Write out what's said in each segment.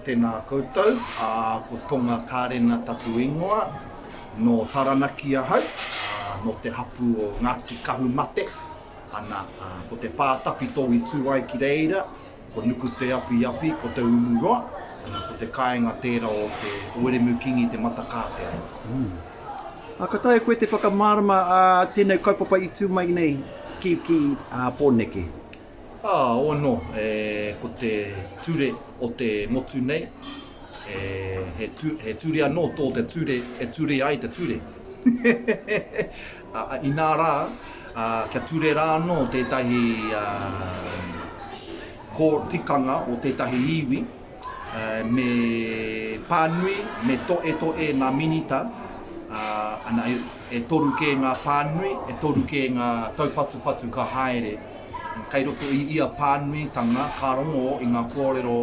Tēnā koutou, ko Tonga Kārena taku ingoa, nō Taranaki ahau, nō te hapū o Ngāti Kahumate, ana, ko te pā tawhito i tū ai ki reira, ko Nukuteapiapi, ko Te Umuroa, ana, ko te kāinga tērā o te Wiremu Kingi Te Matakātea. Ā, ka taea koe te whakamārama ā tēnei kaupapa i tū mai nei ki Pōneke? Ā, ōno, e, ko te ture o te motu nei, e, he, tu, he ture anō tō te ture e ture ai te ture. a, inā rā, a, kia ture rā anō tētahi a, kō tikanga o tētahi iwi, me pānui, me toetoe ngā minita, ana e toru kē ngā pānui, e toru kē ngā taupatupatu ka haere. Kei roto i ia pānuitanga ka rongo i ngā kōrero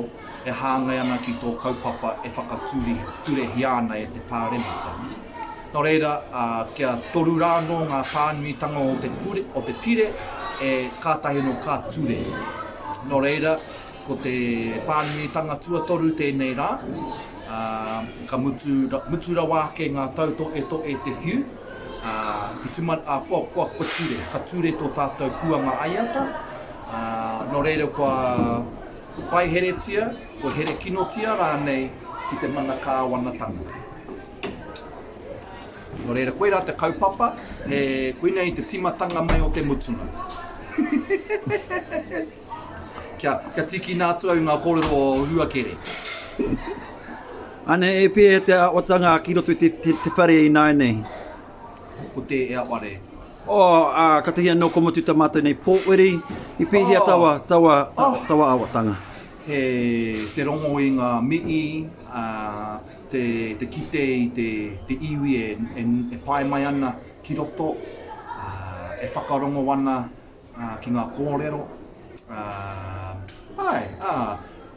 e hāngai ana ki tō kaupapa e whakaturehia ana e te Pāremata. Nō reira, kia toru rā anō ngā pānuitanga o te pire e kātahi anō ka ture. Nō reira, Ko te pānuitanga tuatoru tēnei rā, ā, ka mutu, mutu rawa ake ngā tautoetoe te whiu, ā, i tuma, ā, kua, kua, kua ture, ka ture tō tātou puanga aiata, ā, nō reira kua paiheretia, kua herekinotia rānei ki te mana kāwanatanga. Nō reira, koirā te kaupapa, he, koinei te tīmatanga mai o te mutunga. Kia tīkina atu au ngā kōrero o Huakere. Anei e pēhea te awatanga ki roto i te whare ināianei? Ko te e aware. Oh, uh, katahi anō ko mutu ta mātou nei pōwhiri, i pēhea oh. tawa, tawa, oh. tawa awatanga? He te rongo i ngā mii, uh, te, te kite i te, te iwi e, e, e pae mai ana ki roto, uh, e whakarongo ana ā, ki ngā kōrero, ā, āe, ā,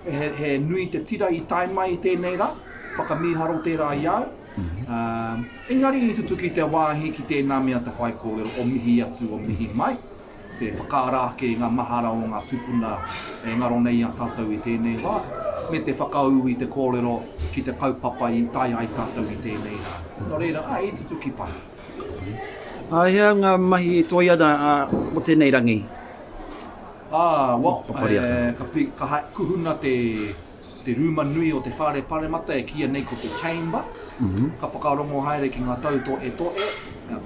he, he nui te tira i tae mai i tēnei rā, whakamīharo tērā i a au. Ā, engari i tutuki te wāhi ki tēnā mea te whaikōrero o mihi atu, o mihi mai, te whakaara ake i ngā mahara o ngā tūpuna e ngaro nei i a tātou i tēnei wā, me te whakaū i te kōrero ki te kaupapa i tae ai tātou i tēnei rā. Nō reira, āe, i tutuki paha. Ā, hea ngā mahi e toe ana mō tēnei rangi? Ā, well, ka kuhuna te rūma nui o te Whare Paremata e kīia nei ko te Chamber, ka whakarongo haere ki ngā tau toetoe,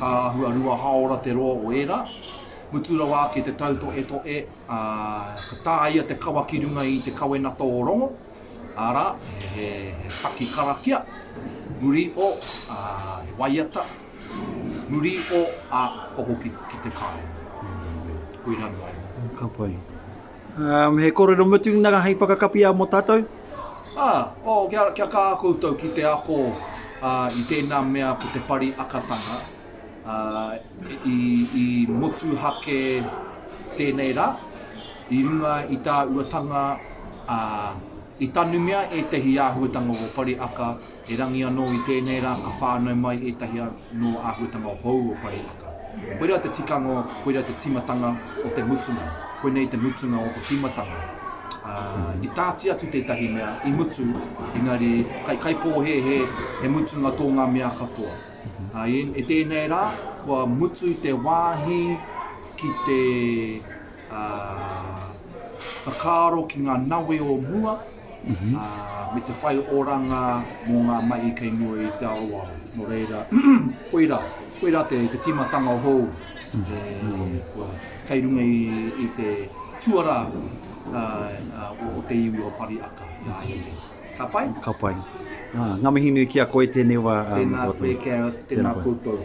ka āhua rua hāora te roa o ērā. Mutu rawa ake te tau toetoe, ka tāia te kawa ki runga i te kawenata o Rongo. Arā, he paki karakia, muri o, ā, he waiata, muri o, ā, koho ki, ki te kāinga. Koirā noa iho. Ka pai. Um, he kōrero mutu nā hei whakakapia mō tātou? Ā, oh, kia, kia kā koutou ki te ako uh, i tēnā mea ko te pari akatanga, Ā, i motuhake tēnei rā, i runga i tā Uatanga, ā, i tanumia ētahi āhuatanga o Pariaka, erangi anō i tēnei rā ka whānau mai ētahi anō āhuatanga hou o Pariaka. Koirā te tikanga, koirā te tīmatanga o te mutunga, koinei te mutunga o te tīmatanga. Ā, i tāti atu tētahi mea, i mutu, engari kei kaipōhēhē he mutunga tō ngā mea katoa. I tēnei rā, kua mutu te wāhi ki te whakaaro ki ngā nawe o mua me te whai oranga mō ngā mahi kei mua i te aroaro. Nō reira, koirā, koirā te tīmatanga hou kei runga i te tuarā o te iwi o Pariaka i a ia nei. Ka pai? Ka pai. Ngā mihi nui ki a koe tēnei wā. Tēnā koe, tēnā koutou.